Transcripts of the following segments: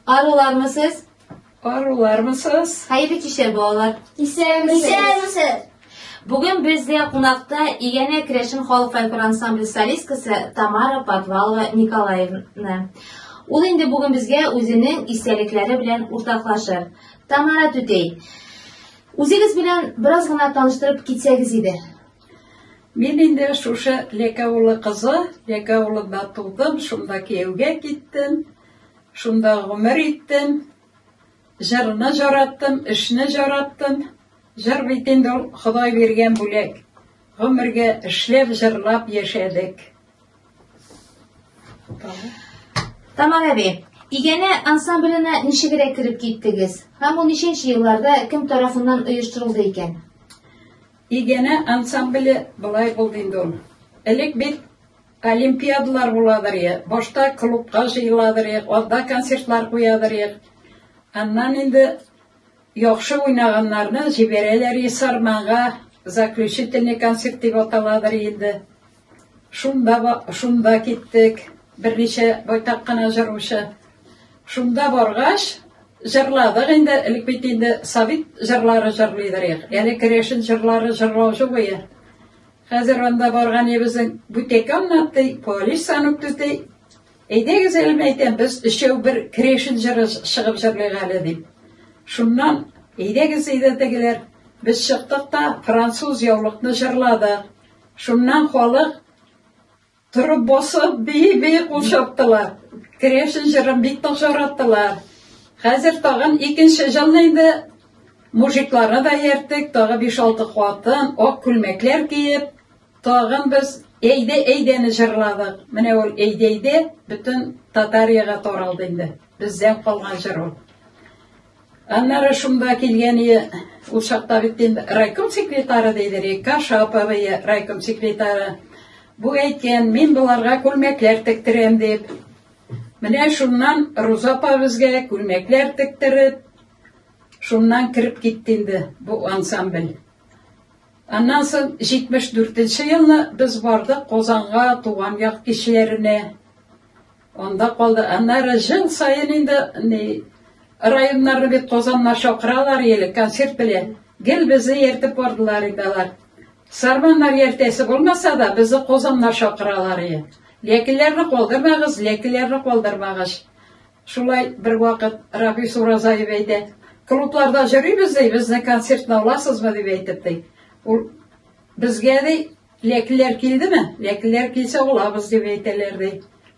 Арулармы сез? Арулармы сез? Хәерле кичә балалар. Исәнмесез. Бүген бездә кунакта Игәнә Крәшин халык фольклор ансамбле солисткасы Тамара Подвалова Николаевна. Ул инде бүген безгә үзенең истәлекләре белән уртаклашыр. Тамара түтей, үзегез белән бераз гына таныштырып китсәгез иде. Мин инде шушы Лекәулы кызы, Лекәулыда тудым, шунда кияүгә киттем, шунда гомер иттем. Җырны җараттым, эшне җараттым. Җыр бит инде ул Ходай биргән бүләк. Гомергә эшләп, җырлап яшәдек. Тамар әби, Игәнә ансамбленә ничегрәк кереп киттегез? Һәм ул ничәнче елларда, кем тарафыннан оештырылды икән? Игәнә ансамбле болай булды инде ул. Элек бит олимпиадалар буладыр е, башта клубка җыеладыр е, алда концертлар куядыр е. Аннан инде яхшы уйнаганнарны җибәрәләр е Сарманга, заключительный концерт дип аталадыр инде. Шунда шунда киттек. Берничә байтак кына җырлыйча. Шунда баргач, җырладык инде, элек бит инде совет җырлары җырлыйдыр ек. Әле керәшен җырлары җырлаучы буе. Хәзер анда барган ебезен бүтәкә аннатты, полис санып төте. Әйдәгез әле мәйтәм, без өчәү бер керәшен җыры чыгып җырлыйк әле дип. Шуннан әйдәгез әйдә тегеләр. Без чыктык та француз яулыкны җырладык. Шуннан халык торып басып, бии-бии кул чаптылар. Крешин җырын бик тә шараттылар. Хәзер тагын икенче җылны инде мужикларны да иярттек, тагы 5-6 хатын, ак күлмәкләр киеп, тагын без Әйдә, әйдәне җырладык. Менә ул әйдә, әйдә бөтен Татарияга таралды инде. Бездән калган җыр ул. Аннары шунда килгәне ул чакта бит инде райком секретары диде, Река Шаповая райком секретары. Бу әйткән, мин боларга күлмәкләр тектерәм дип. Менә шуннан Руза апа безгә күлмәкләр тектереп, шуннан кереп китте инде бу ансамбль. Аннан соң 74 нче елны без бардык Казанга, туган як кешеләренә. Анда калды. Аннары жыл саен инде ни районнарны бит Казаннар чакыралар еле концерт белән. Гел безне ертып бардылар инде алар. Сарманнар ертәсе булмаса да, безне Казаннар чакыралар иде. Ләкиләрне калдырмагыз, ләкиләрне калдырмагыз. Шулай бер вакыт Рафис Уразаев әйтә, клубларда йөрибез ди, безне концертны аласызмы дип әйтеп ди. Ул безгә ди, Ләкиләр килдеме? Ләкиләр килсә алабыз дип әйтәләр ди.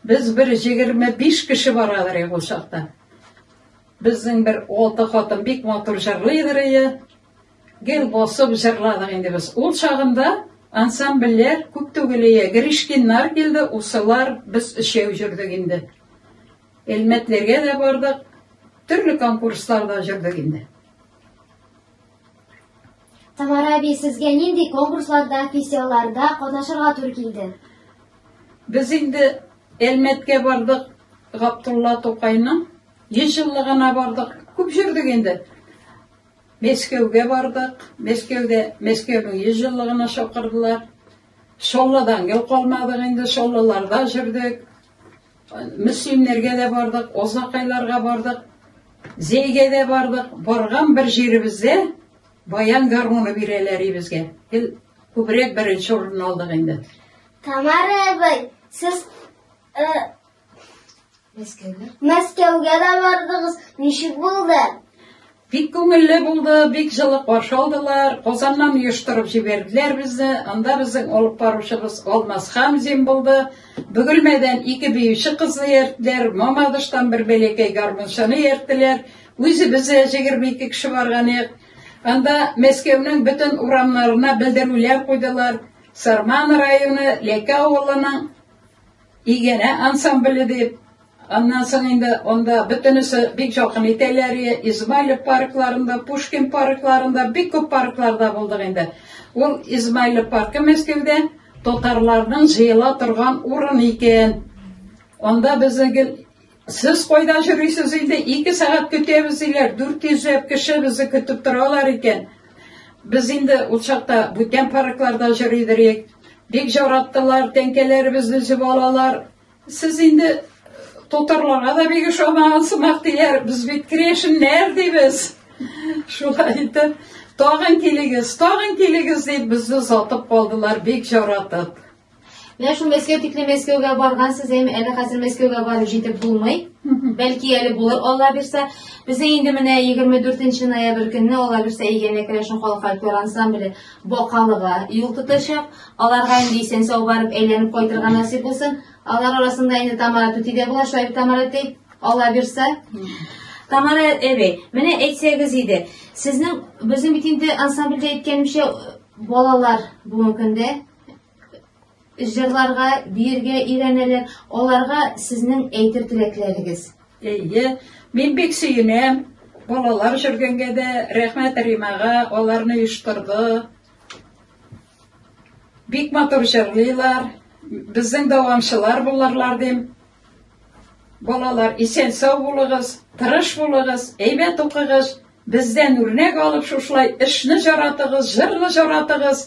Без бер 25 кеше барадыр ул чакта. Безнең бер алты хатын бик матур җырлыйдыр ие. Гел басып җырладык инде без. Ул чагында ансамбльләр күп түгел ие. Гришкиннар килде, усылар, без өчәү җөрдек инде. Элмәтләргә дә бардык, төрле конкурсларда җөрдек инде. Тамара әби, сезгә нинди конкурсларда, фестивальләрдә катнашырга туры килде? Без инде Әлмәткә бардык, Гаптулла Тукайның 100 еллыгына бардык. Күп җөрдек инде. Мәскәүгә бардык. Мәскәүдә Мәскәүнең 100 еллыгына чакырдылар. Шолладан гел калмадык инде, Шоллаларда җөрдек. Мөслимнәргә дә бардык, Озакайларга бардык, Зәйгә дә бардык. Барган бер җиребездә баян гармуны бирәләр ибезгә. Гел күбрәк беренче урынны алдык инде. Тамара әбәй, сез э, Мәскәүгә. Мәскәүгә дә бардыгыз. Ничек булды? Бик күңелле булды, бик җылы каршы алдылар. Казаннан оештырып җибәрделәр безне. Анда безнең алып баручыбыз Алмаз Хәмзин булды. Бөгелмәдән ике биюче кызны иярттеләр, Мамадыштан бер бәләкәй гармунчыны иярттеләр. Үзебез дә җигерме ике кеше барган идек. Анда Мәскәүнең бөтен урамнарына белдерүләр куйдылар. Сарман районы Ләкә авылының Игәнә ансамбле дип, аннан соң инде анда бөтенесе бик җакын итәләр, Измайлов паркларында, Пушкин паркларында, бик күп паркларда булдык инде. Ул Измайлов паркы Мәскәүдә татарларның җыела торган урын икән. Анда безнең Сез кайда йөрисез инде, ике сәгать көтәбез диләр, дүрт йөзләп кеше безне көтеп торалар икән. Без инде ул чакта бүтән паркларда йөри идек. Бик яраттылар, тәңкәләребезне өзеп алалар. Сез инде татарларга да бик ошамаган сымак диләр, без бит крешеннәр дибез. Шулай итеп, тагын килегез, тагын килегез дип безне озатып калдылар, бик яратып. Менә шул Мәскәү тикле Мәскәүгә баргансыз, әйме, әле хәзер Мәскәүгә барып җитеп булмый. Бәлки әле булыр, Алла бирсә. Бездә инде менә 24 ноябрь көнне Алла бирсә Игәнә керәшен халык фольклор ансамбле Бакалыга юл тотачак. Аларга инде исән сау барып әйләнеп кайтырга насыйп булсын. Алар арасында инде Тамара түти дә була, Шайб Тамара әти, Алла бирсә. Тамара әбей, менә әйтсәгез иде, сезнең безнең бит инде ансамбльдә әйткәнемчә балалар бүгенге көндә җырларга, биергә өйрәнәләр. Аларга сезнең әйтер теләкләрегез? Әйе, мин бик сөенәм. Балалар җөргәнгә дә рәхмәт Римага, аларны оештырды. Бик матур җырлыйлар. Безнең дәвамчылар булырлар дим. Балалар, исән сау булыгыз, тырыш булыгыз, әйбәт укыгыз, бездән үрнәк алып шушылай эшне җаратыгыз, җырны җаратыгыз.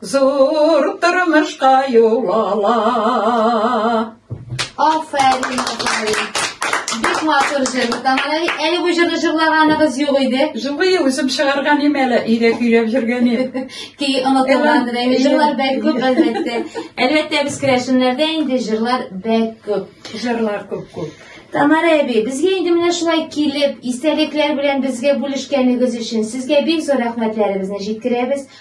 Зур тормышка юл ала. Афәрин, афәрин. Бик матур җыр. Тамалай, әле бу җырны җырлаганыгыз юк иде. Җылы үзем чыгарган ием әле, өйдә көйләп йөргән ием. Ки онытылгандыр әле җырлар бәк күп әлбәттә. Әлбәттә без керәшеннәрдә инде җырлар бәк күп. Җырлар күп күп. Тамара әби, безгә инде менә шулай килеп, истәлекләр белән безгә бүлешкәнегез өчен сезгә бик зур рәхмәтләребезне җиткерәбез.